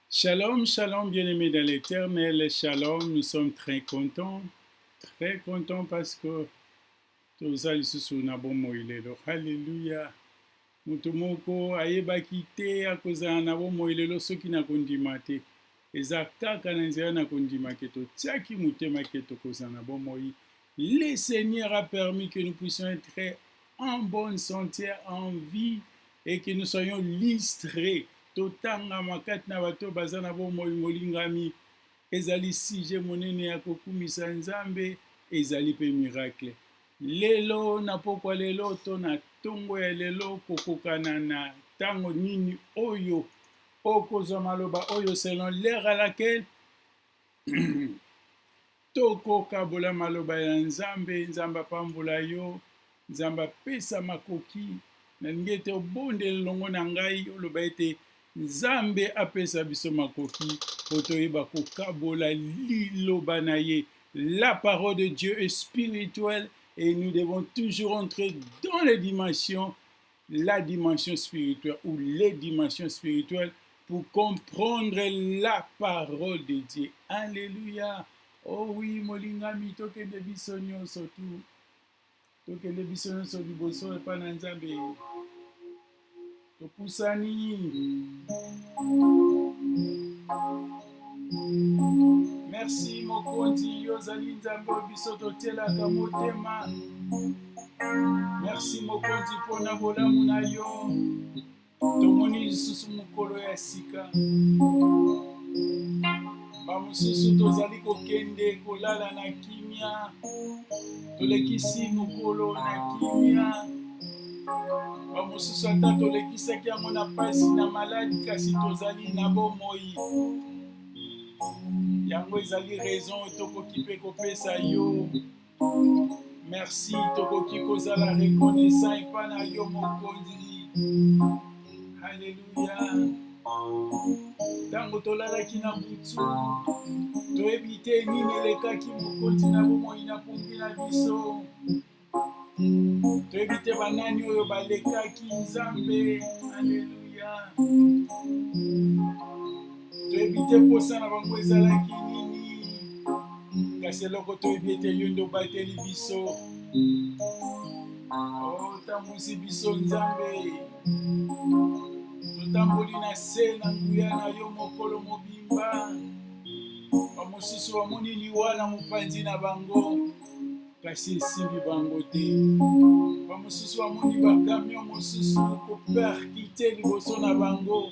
Shalom, shalom, bien-aimés dans l'éternel. Shalom, nous sommes très contents. Très contents parce que toza lisusu na bomoi lelo. Hallelujah. Moto moko ayebaki te akozala na bomoi lelo soki na kondima te. Eza kaka na nzela na kondima ke totiaki motema ke tokozala na bomoi. Le Seigneur a permis que nous puissions être en bonne santé, en vie et que nous soyons listrés. Totangama kati na bato baza na bomoi molingami. Ezali sujet monene ya kokumisa Nzambe, ezali pe miracle. Lelo na pokwa lelo to na tongo ya lelo kokokana na tango nini oyo Okozwa maloba oyo selon l'heure à laquelle tokokabola maloba ya Nzambe. Nzambe apambola yo, Nzambe apesa makoki. Nalingi ete obondela elongo na ngai, oloba ete Nzambe apesa biso makoki mpo toyeba kokabola liloba na ye. La parole de Dieu est spirituelle et nous devons toujours entrer dans les dimensions la dimension spirituelle ou les dimensions spirituelles pour comprendre la parole de Dieu. Alléluia. Oh oui, molingami tokende biso nyonso tu. Tokende biso nyonso liboso epa na Nzambe. Topusani. merci mokonzi yo ozali nzambe oyo biso totyelaka motema merci mokonzi mpo na bolamu na yo tomoni lisusu mokolo ya sika bamosusu tozali kokende kolala na kimia tolekisi mokolo na kimia bamosusu ata tolekisaki yango na mpasi na maladi kasi tozali na bomoi yango ezali raison tokoki mpe kopesa yo merci tokoki kozala reconnaissant epai na yo mokonzi Alléluia. Tango tolalaki na butu, toyebi te nini elekaki mokonzi na bomoi na kumbi na biso. Toyebi te banani oyo balekaki Nzambe. Alléluia. toyebi te mposa na bango ezalaki nini kasi eloko toyebi ete yo nde obateli biso otambwisi oh, biso nzambe totamboli na se na nguya na yo mokolo mobimba bamosusu bamoni liwa na mopanzi na bango kasi esimbi bango te bamosusu bamoni bakamio mosusu koperkite liboso na bango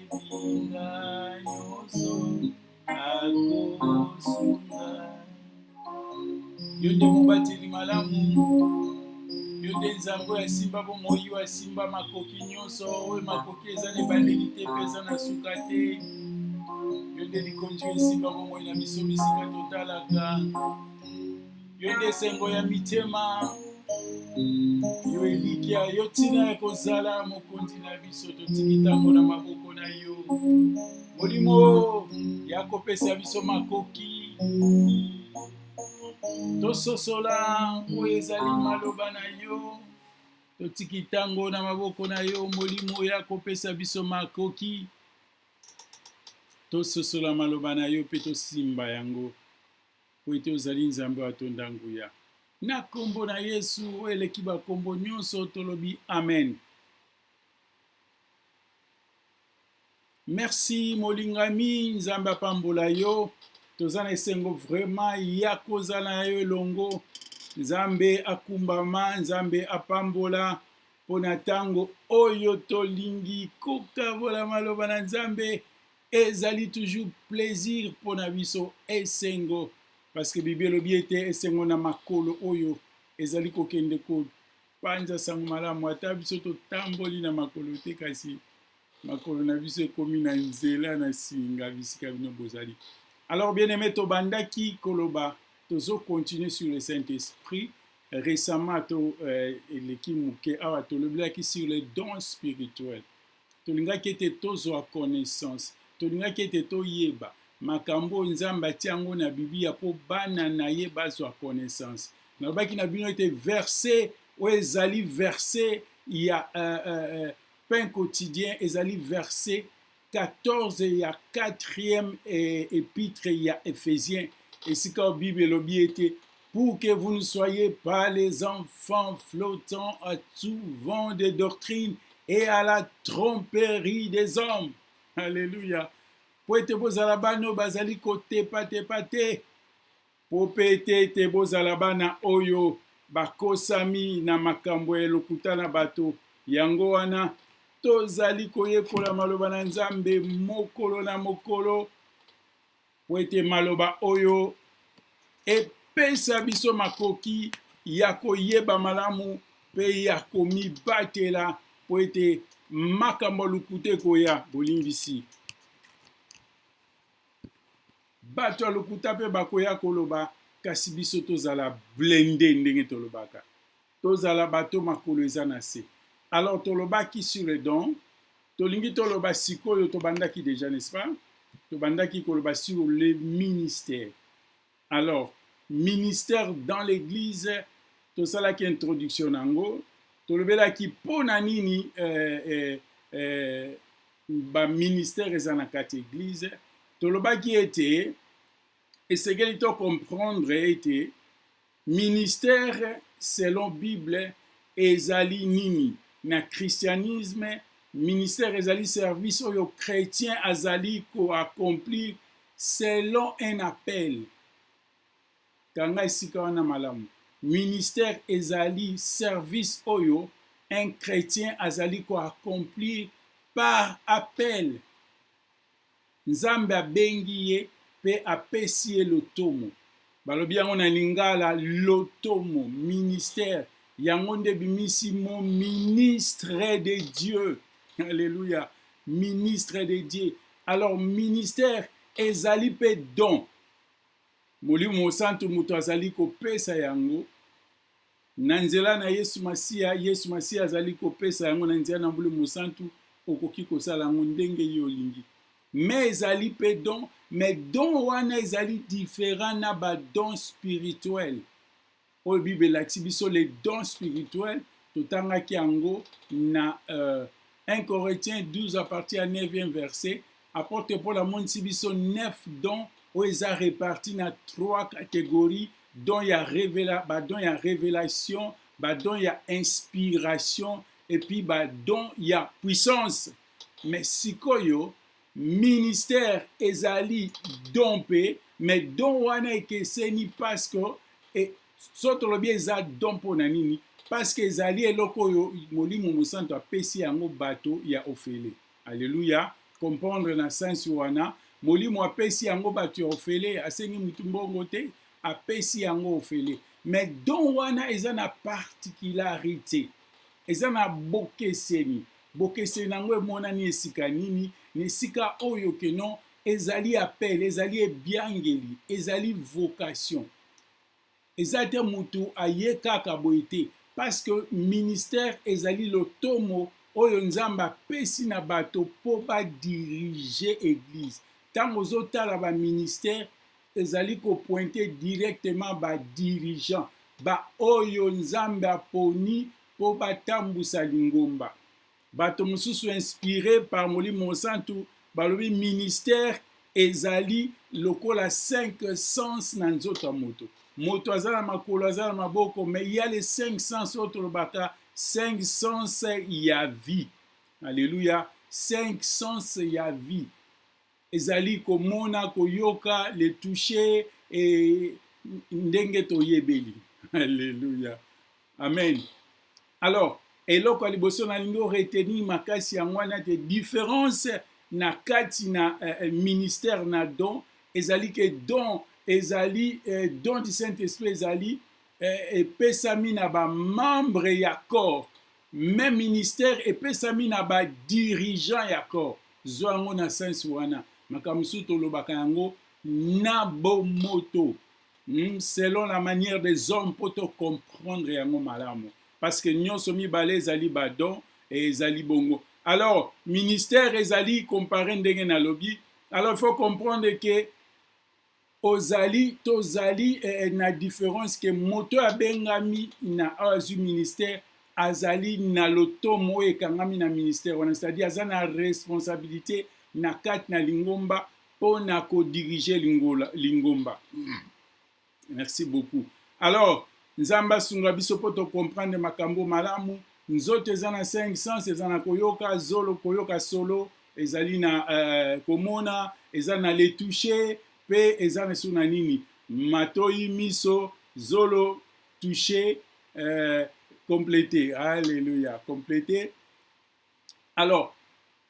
nzambe oyo asimba bomoi oyo asimba makoki nyonso oyo makoki eza na ebandeli te mpe eza na suka te yo nde likonzi oyo esimba bomoi na biso bisika totalaka yo nde esengo ya mitema yo elikya yo ntina ya kozala mokonzi na biso totiki ntango na maboko na yo molimo ya kopesa biso makoki tososola oyo ezali maloba na yo totiki ntango na maboko na yo molimo ya kopesa biso makoki tososola maloba na yo mpe tosimba yango mpo ete ozali Nzambe oyo atonda nguya. Na nkombo na Yesu oyo eleki bankombo nyonso, tolobi amen. Merci molingami, Nzambe apambola yo. Toza na esengo vraiment ya kozala na yo elongo. Nzambe akumbama, Nzambe apambola mpo na ntango oyo tolingi kokabola maloba na Nzambe. ezali toujours plaisir mpo na biso esengo parce que bibi elobi ete esengo na makolo oyo ezali kokende kopanza sango malamu ata biso totamboli na makolo te kasi makolo na biso ekomi na nzela na singa bisika bino bozali alors bien aimé tobandaki koloba tozo continuer sur le saint esprit récemment to euh, eleki moke awa tolobelaki sur les dons spirituels tolingaki ete tozwa connaissance, tolingaki ete toyeba makambo oyo Nzambe atie yango na Biblia mpo bana na ye bazwa connaissance. Nalobaki na bino ete verse oyo ezali verse ya uh, uh, uh, pain quotidien ezali verse 14 ya 4e eh, epitre ya Ephesien esika oyo Bible elobi ete pour que vous ne soyez pas les enfants flottants à tout vent des doctrines et à la tromperie des hommes. Alléluia. mpo ete bozala bana oyo bazali kotepatepa te mpo mpe ete ete bozala bana oyo bakosami na makambo ya lokuta na bato yango wana tozali koyekola maloba na nzambe mokolo na mokolo Mpo ete maloba oyo epesa biso makoki ya koyeba malamu mpe ya komibatela mpo ete makambo ya lokuta ekoya bolimbisi bato ya lokuta mpe bakoya koloba kasi biso tozala blende ndenge tolobaka Tozala bato makolo eza na se. Alors tolobaki sur le don, tolingi toloba sikoyo tobandaki dejà n'est-ce pas? Tobandaki koloba sur le ministère. Alors ministère dans l'eglise tosalaki introduction na yango, tolobelaki mpo na nini eh, eh, eh, ba ministère eza na kati eglise. Tolobaki ete esengeli to comprendre ete Ministère selon bible ezali nini? Na christianisme ministère ezali service oyo chretien azali ko accomplir selon un appel. Kanga esika wana malamu. Ministère ezali service oyo un chretien azali ko accomplir par appel. Nzambe abengi ye pe apesi ye lotomo. Balobi yango na lingala lotomo, ministère. Yango nde ebimisi mot ministre de Dieu. Alleluia. Ministre de Dieu. Alors ministère ezali pe don. Molimo Mosantu moto azali kopesa yango Na nzela na Yesu Masiya, Yesu Masiya azali kopesa yango na nzela na mbuli mosantu, okoki kosala yango ndenge yo olingi. Mais ezali pe don, mais don wana ezali different na ba don spirituel oyo Bible elakisi biso les dons spirituels totangaki yango na euh, 1 Corinthiens 12 à partir ya 9e verset Apotre Paul amonisi biso neuf dons oyo eza reparti na trois catégories don ya revela badon ya revelation badon ya inspiration epuis badon ya puissance me sikoyo ministère ezali don mpe me don wana ekeseni parceke e, so tolobi eza don mpo na nini parceke ezali eloko oyo molimo mosantu apesi yango bato ya ofele Alleluia, comprendre na sense wana, molimo apesi yango bato ya ofele, asengi mutu mbongo te, apesi yango ofele. Mais don wana eza na particularité, eza na bokeseni. Bokeseni yango emonani esika nini? Na esika oyo que non ezali appel, ezali ebiangeli, ezali vocation. Eza te mutu aye kaka boye te parce que ministère ezali lotomo oyo nzambe apesi na bato po ba dirige eglise tango ozo tala ba ministère ezali ko pointe directement ba dirigeant ba oyo nzambe aponi po ba tambusa lingomba Bato mosusu inspire par Molimo Mosantu balobi ministère ezali lokola cinq sens na nzoto ya moto. Moto aza na makolo, aza na maboko, mais il y a les cinq sens oyo tolobaka cinq sens ya vie. Alléluia. Cinq sens ya vie. Ezali komona, koyoka, le toucher et ndenge toyebeli. Alléluia. Amen. Alors, eloko ya liboso nalingi o retenir makasi yango wana te difference na kati na eh, eh, ministère na don ezali ke don ezali eh, don du saint esprit ezali eh, epesami na bamembre ya corps Mme ministère epesami na ba dirigeants ya corps. Zwa yango na sense wana. Makambo mosusu tolobaka yango na bomoto hmm, selon la manière des hommes mpo to comprendre yango malamu parce que nyonso mibale ezali badon et ezali bongo alors ministère ezali compare ndenge nalobi alors il faut comprendre que Ozali, tozali eh, eh, na difference ke moto oyo abengami na oyo azwi ministère azali na lotomo oyo ekangami na ministère wana, c'est-à-dire aza na responsabilité na kati na lingomba mpo na kodirige lingola- lingomba. Merci beaucoup. Alors, Nzambe asunga biso mpo tocomprendre makambo malamu. Nzoto eza na 5 sens, eza na koyoka, zolo koyoka solo, ezali na uh, komona eza na le touche pe eza na suna nini matoyi miso zolo touche uh, complete alleluia complete alors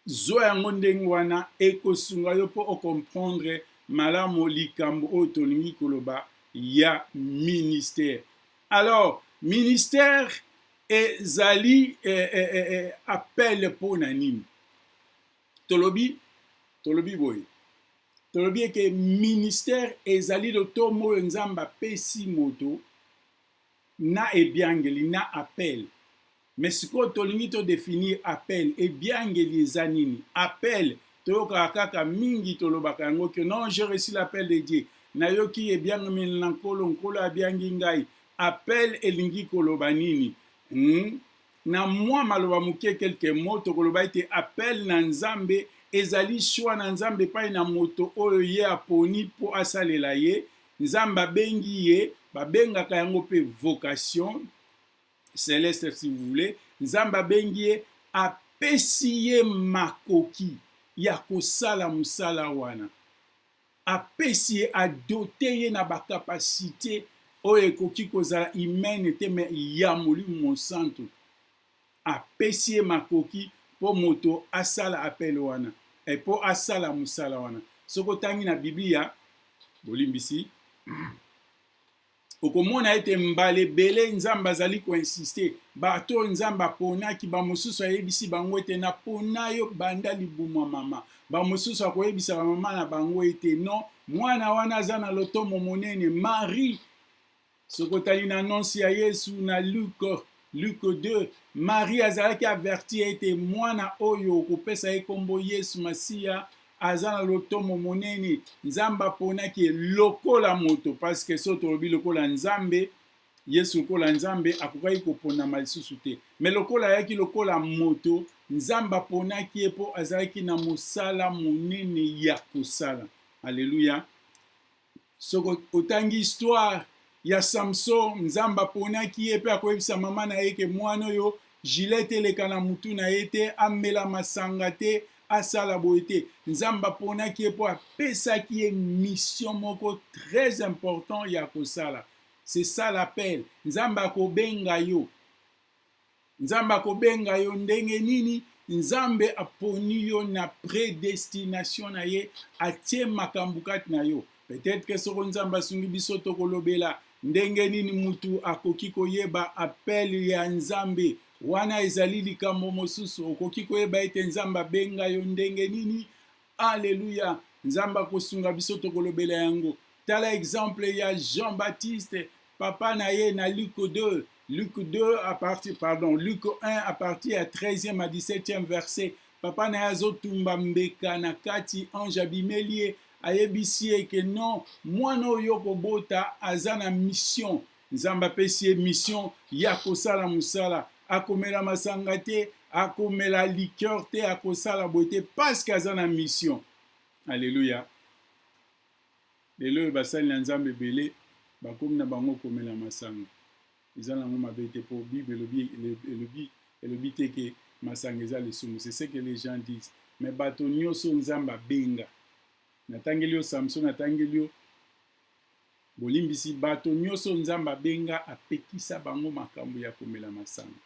zwa yango ndenge wana ekosunga yo mpo ocomprendre malamu likambo oyo tolingi koloba ya ministère alors ministère ezali eh, eh, eh, eh, appel mpo na nini tolobi tolobi boye tolobi eke ministère ezali lotomo oyo nzambe apesi moto na ebiangeli na appel me sikoyo tolingi todefinir appel ebiangeli eza nini appel toyokaka kaka mingi tolobaka yango ke non je reçu l'appel de dieu nayoki ebiangameli na nkolo nkolo abiangi ngai Appel elingi koloba nini? Hum na mwa maloba moke quelques mots tokoloba ete appel na Nzambe ezali choix na Nzambe epai na moto oyo ye aponi mpo asalela ye. Nzambe abengi ye, babengaka yango mpe vocation celeste si vous voulez. Nzambe abengi ye, apesi ye makoki ya kosala mosala wana. apesi ye a doter ye na ba capacites oyo ekoki kozala humaines te mais ya Molimo Mosantu. Apesi ye makoki mpo moto asala appel wana, mpo asala mosala wana. Soki otangi na Biblia, bolimbisi, okomona ete mbala ebele Nzambe azali koinsiste, bato oyo Nzambe aponaki, bamosusu ayebisi bango ete napona yo banda libumu mama. Bamosusu akoyebisa bamama na bango ete non, mwana wana aza na lotomo monene. Marie, soki otali na annonce ya Yesu na Luke, Luke 2, Marie azalaki averti ete mwana oyo okopesa ye nkombo Yesu Masiya, aza na lotomo monene nzambe aponaki ye lokola moto parceke so tolobi lokola nzambe yesu lokola nzambe akokaki koponama lisusu te me lokola ayaki lokola moto nzambe aponaki ye mpo azalaki na mosala monene ya kosala aleluya Soki otangi histoire ya Samson, Nzambe aponaki ye pe akoyebisa mama na ye ke mwana oyo gilete eleka na mutu na ye te, amela masanga te, asala boye te. Nzambe aponaki ye po apesaki ye mission moko très important ya kosala. C'est ça l'appel. Nzambe akobenga yo. Nzambe akobenga yo ndenge nini? Nzambe aponi yo na predestination na ye, atie makambo kati na yo. Peut-être que soko Nzambe asungi biso tokolobela ndenge nini mutu akoki koyeba appel ya Nzambe. Wana ezali likambo mosusu. Okoki koyeba ete Nzambe abenga yo ndenge nini? Alleluia nzambe akosunga biso tokolobela yango tala exemple ya jean baptiste papa na ye na luc 2 luc 2 à partir pardon luc 1 à partir ya 13e à 17e verset papa na ye azotumba mbeka na kati ange abimeli ye ayebisi ye ke non mwana oyo okobota aza na mission Nzambe apesi ye mission ya kosala mosala, akomela masanga te, akomela liqueur te, akosala boye te parce que aza na mission. Alléluia. Lelo oyo basali na Nzambe ebele bakomi na bango komela masanga. Eza nango mabe te po Bible elobi elobi elobi te ke masanga eza lisumu. C'est ce que les gens disent. Mais bato nyonso Nzambe abenga. Natangeli yo Samson, natangeli yo Bolimbisi, Bato nioso Nzambe abenga apekisa bango makambo ya komela masanga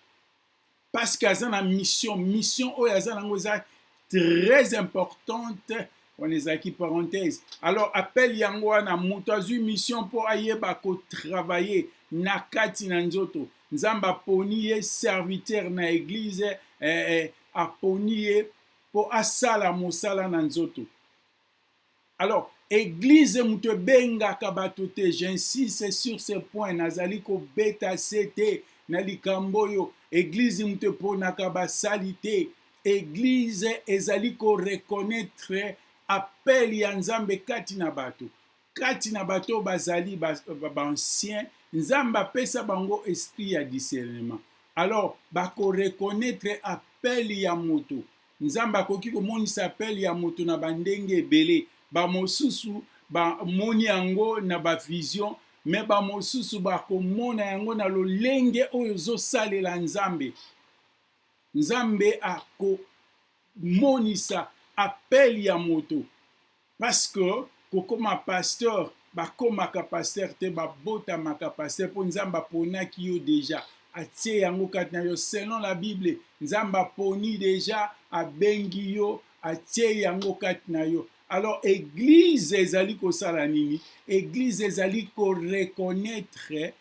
parce que aza na mission. Mission oyo aza nango eza très importante wana ezalaki parenthèse alors appel yango wana moto azwi mission mpo ayeba kotravaille na kati na nzoto nzambe aponi ye serviteur na eglize eh, eh, aponi ye mpo asala mosala na nzoto alors eglise moto ebengaka bato te j'insiste sur ce point nazali kobeta se te na likambo oyo eglise moto eponaka basali te eglise ezali koreconnaitre appel ya nzambe kati na bato kati na bato bazali baancien nzambe apesa bango esprit ya discernement alors bakoreconnaitre appel ya moto Nzambe akoki komonisa apele ya moto na bandenge ebele. Bamosusu bamoni yango na bavizio, me bamosusu bakomona yango na lolenge oyo ozosalela Nzambe. Nzambe akomonisa apele ya moto Parce que kokoma pasteur bakomaka pasteur te babotamaka pasteur po nzambe aponaki yo deja atie yango kati na yo selon la bible nzambe aponi deja abengi yo atie yango kati na yo alors eglise ezali kosala nini eglise ezali koreconnaitre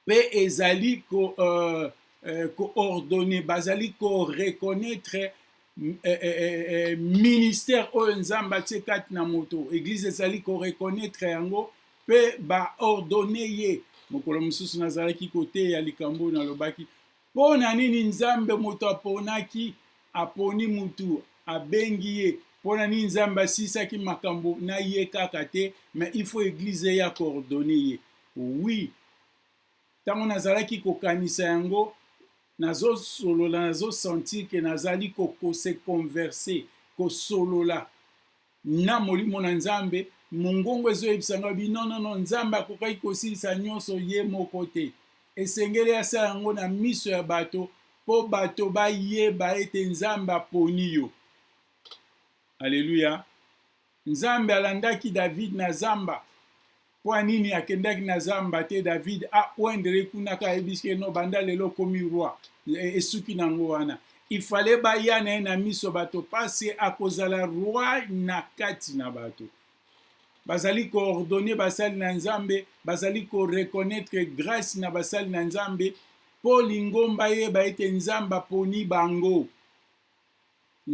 pe ezali ko euh, euh, ko ordonner bazali ko reconnaître euh, euh, euh, euh ministère oyo nzambe atie kati na moto eglise ezali ko reconnaître yango pe ba ordonner ye mokolo mosusu nazalaki koteya likambo oyo nalobaki mpo na nini nzambe moto aponaki aponi motu abengi ye mpo na nini nzambe asisaki makambo na ye kaka te mais il faut eglize eya koordone ye Oui, tango nazalaki kokanisa yango, nazosolola, nazo sentir que nazali ko, ko se converser, kosolola na molimo na Nzambe, mongongo ezoyebisa ngai bi non non non, Nzambe akokaki kosilisa nyonso ye moko te. Esengeli asala yango na miso ya bato mpo bato bayeba ete Nzambe aponi yo. Aleluya. Nzambe alandaki David na zamba. Mpo nini akendaki na zamba te David a oindre ye kuna ka ayebisi ye no banda lelo okomi roi e, esuki na yango wana ifale baya na ye na miso bato pasi akozala roi na kati na bato bazali koordonne basali na nzambe bazali koreconnaitre grace na basali na nzambe mpo lingomba yeba ete nzambe aponi bango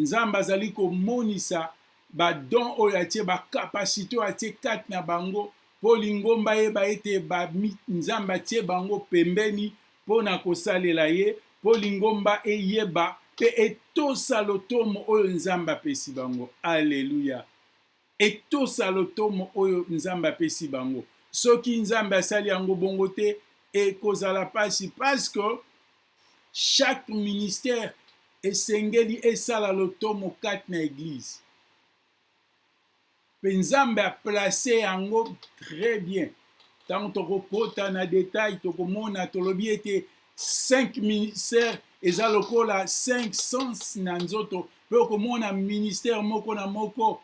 Nzambe azali komonisa ba dons oyo atie, ba capacites oyo atie kati na bango, mpo lingomba eyeba ete ba, Nzambe atie bango pembeni mpo na kosalela ye, mpo lingomba eyeba mpe etosa lotomo oyo Nzambe apesi bango. Aleluya! Etosa lotomo oyo Nzambe apesi bango. Soki Nzambe asali yango bongo te, ekozala pasi parce que chaque ministère esengeli esala lotomo kati na eglise. Pe Nzambe a placer yango très bien. Tango tokokota na detail tokomona tolobi ete 5 ministère eza lokola 5 sens na nzoto mpe okomona ministère moko na moko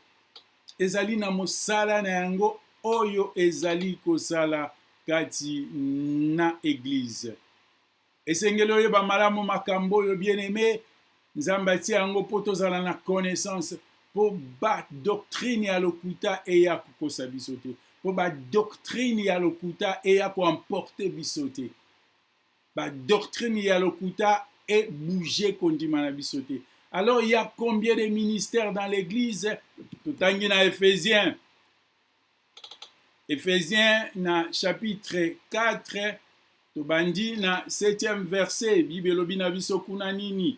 ezali na mosala na yango oyo ezali kosala kati na eglize esengeli oyeba malamu makambo oyo bien aime nzambe atie yango mpo tozala na connaissance mpo badoctrine ya lokuta eya kokosa biso te mpo badoctrine ya lokuta eya koemporte biso te ba doctrine ya lokuta e bouger kondima na biso te alors il y a combien de ministères dans l'église totangi na ephésiens ephésiens na chapitre 4 tobandi na 7e verset bible elobi na biso kuna nini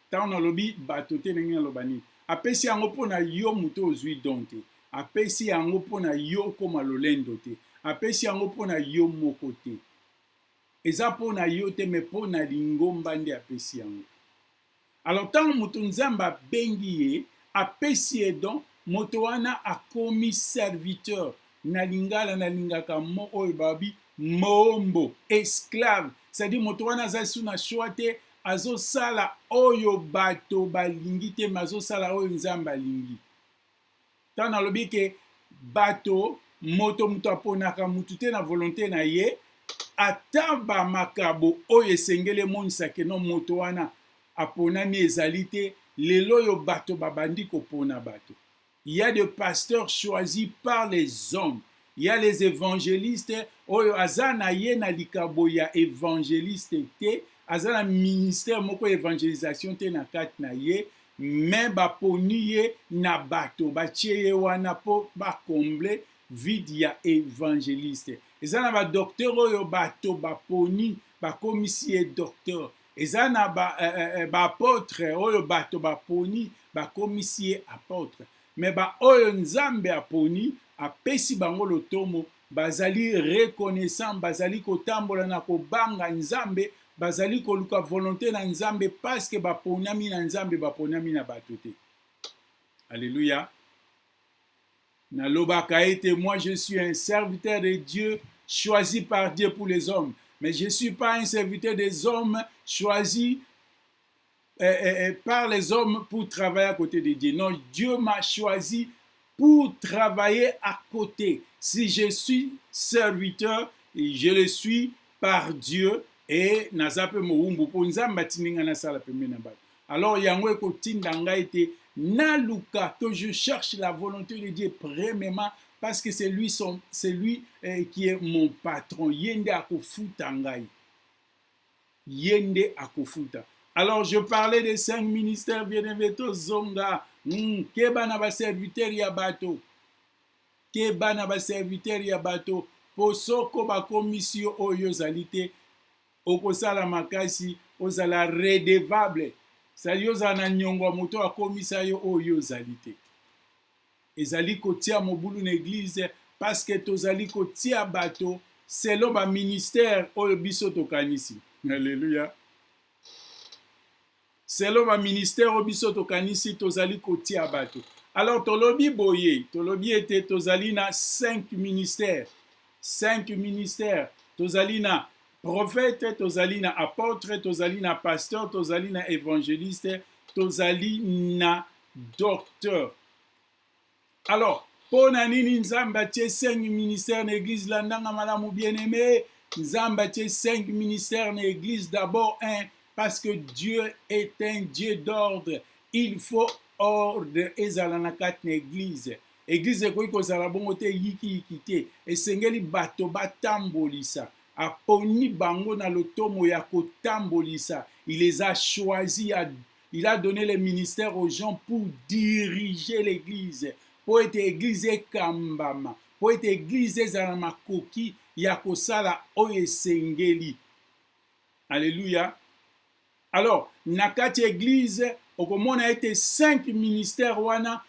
tango nalobi bato te ndenge naloba nini apesi yango mpo na yo moto ozwi don te apesi yango mpo na yo okoma lolendo te apesi yango mpo na yo moko te eza mpo na yo te me mpo na lingomba nde apesi yango alors ntango moto nzambe abengi ye apesi ye don moto wana akomi serviteur na lingala nalingaka mo oyo babi moombo esclave cestadire moto wana aza lisu na shwa te Azosala oyo bato balingi te, mais azosala oyo Nzambe alingi. Ntango nalobi ke bato, moto moto aponaka moto te na volonte na ye, ata ba makabo oyo esengeli emonisa ke no moto wana aponami ezali te, lelo oyo bato babandi kopona bato. il ya de pasteurs choisis par les hommes il ya les evangelistes oyo aza na ye na likabo ya evangeliste te aza na ministère moko ya evangelisation te na kati na ye me baponi ye na bato batie ye wana mpo bakomble vide ya evangeliste eza na badoktere oyo bato baponi bakomisi ye docteur eza na ba, eh, eh, eh ba apotre oyo bato baponi bakomisi ye apotre me baoyo nzambe aponi apesi bango lotomo bazali reconnaissant bazali kotambola na kobanga nzambe bazali koluka volonté na nzambe paske baponami na nzambe baponami na bato te alleluya Nalobaka ete moi je suis un serviteur de Dieu choisi par Dieu pour les hommes, mais je suis pas un serviteur des hommes choisi eh, eh, eh, par les hommes pour travailler à côté de Dieu. Non, Dieu m'a choisi pour travailler à côté. Si je suis serviteur, je le suis par Dieu et naza pe mowumbu po nzambe atindinga nasala pembe na bato Alors yango ekotinda ngai ete naluka que je cherche la volonté de Dieu premièrement parce que c'est lui son c'est lui eh, qui est mon patron ye nde akofuta ngai ye nde akofuta alors je parlais des cinq ministères bien aimé tozonga mm, keba na baserviteur ya bato keba na baserviteur ya bato mpo soko bakomisi yo oyo ozali te okosala makasi ozala redevable sali ozala na nyongo ya moto akomisa yo oyo yo ozali te ezali kotia mobulu na eglize paske tozali kotia bato selon baministere oyo biso tokanisi aleluya selon ba ministère oyo biso tokanisi tozali kotia bato. Alors tolobi boye, tolobi ete tozali na 5 ministères. 5 ministères. Tozali na prophète, tozali na apôtre, tozali na pasteur, tozali na évangéliste, tozali na docteur. Alors, mpo na nini Nzambe atie cinq ministères na eglise? Landanga malamu bien aimé. Nzambe atie cinq ministères na eglise d'abord un parce que Dieu est un Dieu d'ordre. Il faut ordre ezala na kati na eglise. Eglise ekoki kozala bongo te yikiyiki te. Esengeli bato batambolisa. Aponi bango na lotomo ya kotambolisa. Il les a choisis à Il a donne le ministère aux gens pour diriger l'eglise, mpo ete eglise ekambama, mpo ete eglise ezala na makoki ya kosala oyo esengeli. Alleluia. Alors, na kati ya eglise, okomona ete cinq ministères wana,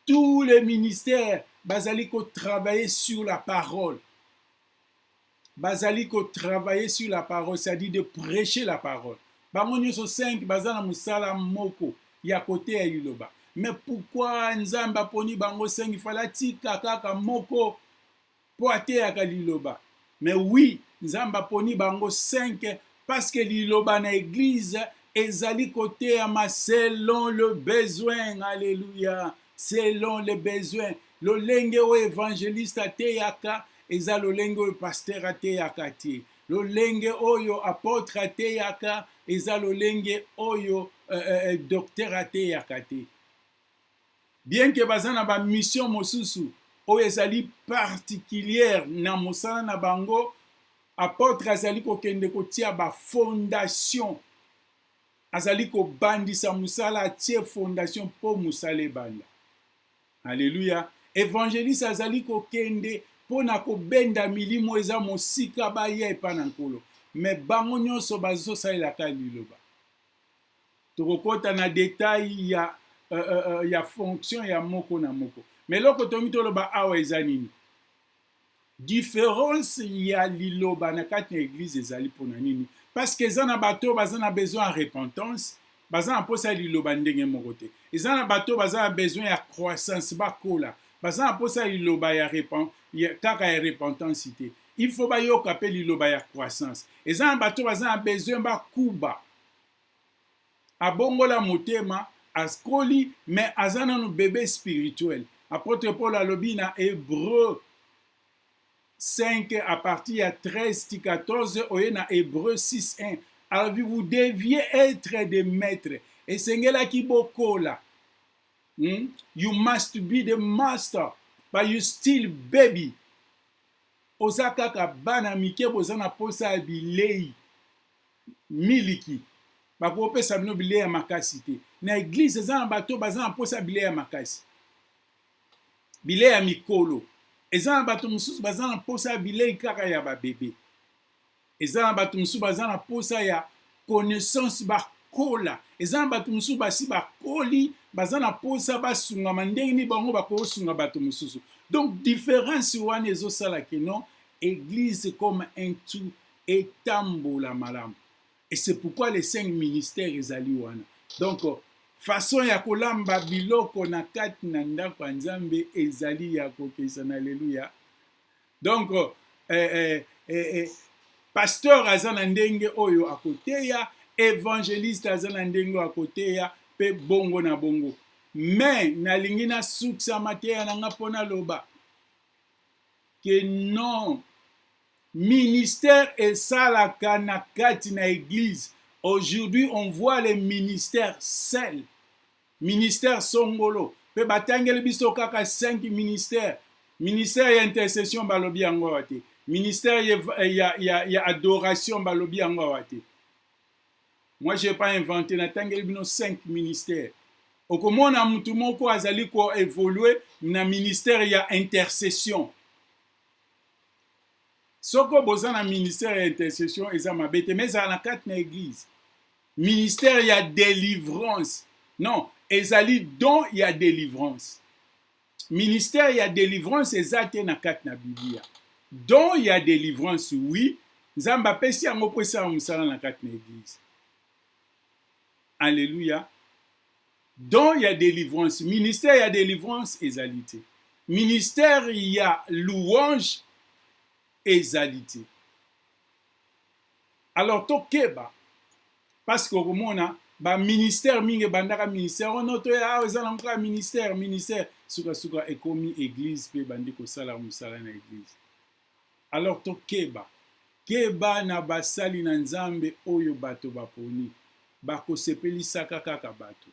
tous les ministères bazali kotravailler sur la parole. bazali ko travailler sur la parole c'est-à-dire de prêcher la parole bango nyonso 5 baza na mosala moko ya koteya liloba me pourkui nzambe aponi bango 5 fala atika kaka moko mpo ateyaka liloba me wi nzambe aponi bango 5 Parce que liloba na eglise ezali koteyama selon le besoin. Alléluia. Selon le besoin. Lolenge oyo evangeliste ateyaka eza lolenge oyo pasteur ateyaka te. Lolenge oyo apotre ateyaka eza lolenge oyo euh, euh, euh docteur ateyaka te. Bien que baza na ba mission mosusu oyo ezali particulière na mosala na bango, apotre azali kokende kotia ba fondation, azali kobandisa mosala atie fondation mpo mosala ebanda. Aleluya! Evangeliste azali kokende mpo na kobenda milimo oyo eza mosika baya epai na Nkolo, me bango nyonso bazosalela kaka liloba. Tokokota na detail ya, uh, uh, uh, ya fonction ya moko na moko. Me eloko tongi toloba awa eza nini? Difference ya liloba na kati na eglise ezali mpo na nini? Parce que eza na bato oyo baza na besoin ya repentance, baza na mposa ya liloba ndenge moko te. Eza na bato oyo baza na besoin ya croissance, bakola, baza na mposa ya liloba ya, repen, ya kaka ya repentance te. Il faut bayoka mpe liloba ya croissance. Eza na bato oyo baza na besoin bakuba abongola motema askoli me aza nanu bebe spirituel apotre paul alobi na hebreu 5 à partir ya 13 ti 14 oye na hebreu 6 1 alobi vous deviez être de maître esengelaki bokola hmm? you must be the master but you still baby oza kaka bana mike boza na posa ya bilei miliki bakopesa bino bilei ya makasi te na eglize eza na bato baza na mposa ya bilei ya makasi bilei ya mikolo eza na bato mosusu baza na mposa ya bilei kaka ya babebe eza na bato mosusu baza na mposa ya connaissance bakola eza na bato mosusu basi bakoli baza na mposa basungama ndenge nini bango bakosunga bato mosusu donc différence wana ezosala kino eglise comme un tout etambola malamu et c'est pourquoi les cinq ministères ezali wana donc façon ya kolamba biloko na kati na ndako ya nzambe ezali ya kokeisa na aleluya donc eh, eh, eh, eh, pasteur aza na ndenge oyo akoteya evangeliste aza na ndenge oyo akoteya mpe bongo na bongo me nalingi nasukisa mateya na nga mpo naloba ke non Ministère esalaka na kati na eglise aujourd'hui on voit les ministères sel ministère songolo pe batangeli biso kaka 5 ministère ministère ya intercession balobi yango awa te ministère ya, ya, ya, ya adoration balobi yango awa te moi j'ai pas inventé natangeli bino 5 ministère okomona mutu moko azali koevolue na ministère ya intercession soko boza na ministère ya intercession eza mabe te mais ezala na kati na église ministère ya délivrance non ezali don ya délivrance ministère ya délivrance eza te na kati na biblia don ya délivrance oui nzambe apesi yango mpo esala mosala na kati na église alleluya Don ya delivrance, ministère ya delivrance ezali te. Ministère ya louange ezali te. Alors tokeba parce que okomona ba ministère mingi ebandaka ministère wana oh toya awa eza nango kaka ministère ministère sukasuka ekomi église mpe ebandi kosala mosala na église Alors tokeba. Keba na basali na Nzambe oyo bato baponi. Bakosepelisaka kaka bato.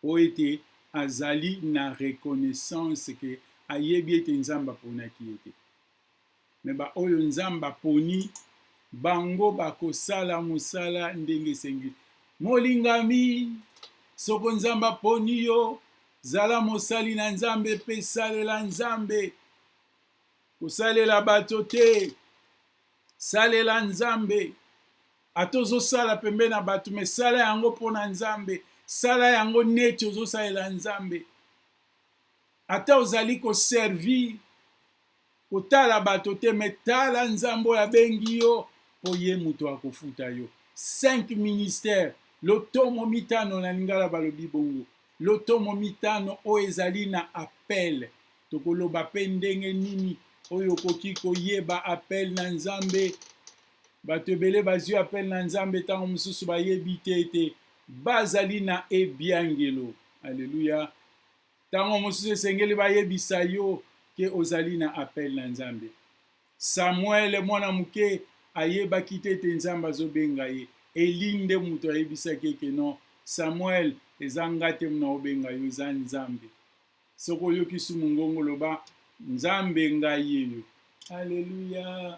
Mpo ete azali na reconnaissance que ayebi ete Nzambe aponaki ye te. Mais ba oyo Nzambe aponi, bango bakosala mosala ndenge esengi. Molingami, soko Nzambe aponi yo, Zala mosali na Nzambe mpe salela Nzambe. Kosalela bato te, salela Nzambe. Ata ozosala pembe na bato, me sala yango mpo na Nzambe. Sala yango neti ozosalela Nzambe. Ata ozali koservir kotala bato te me tala nzambe oyo abengi yo mpo ye moto akofuta yo 5 ministère lotomo mitano na lingala balobi bongo lotomo mitano oyo ezali na appel tokoloba mpe ndenge nini oyo okoki koyeba appel na nzambe bato ebele bazwi appel na nzambe ntango mosusu bayebi te ete bazali na ebiangelo aleluya Tango mosusu esengeli bayebisa yo ke ozali na appel na Nzambe. Samuel mwana moke ayebaki te ete Nzambe azobenga ye. Eli nde moto ayebisaki ye ke non Samuel eza nga te muna obenga yo eza Nzambe. Soki oyoki su mungongo loba Nzambe nga yeyo. Alleluia!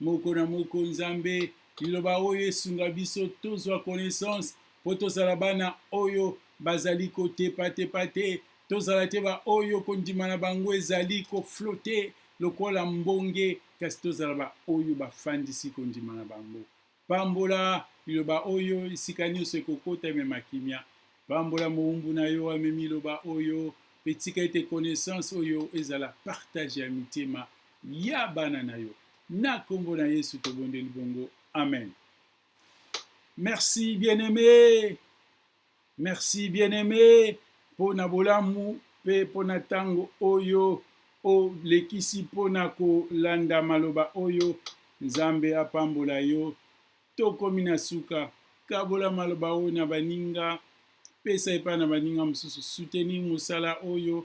moko na moko nzambe liloba oyo esunga biso tozwa connaissance mpo tozala bana oyo bazali kotepatepa te tozala te baoyo kondima na bango ezali koflote lokola mbonge kasi tozala baoyo bafandisi kondima na bango Pambola liloba oyo esika nyonso ekokota, emema kimia. Pambola mowumbu na yo amemi liloba oyo, pe tika ete connaissance oyo ezala partage ya mitema ya bana na yo. Na kombo na Yesu tobondeli bongo, amen. Merci bien-aime. Merci bien aime mpo na bolamu mpe mpo na ntango oyo olekisi mpo na kolanda maloba oyo. Nzambe apambola yo. Tokomi na suka. Kabola maloba oyo na baninga, pesa epai na baninga mosusu, soutenir mosala oyo.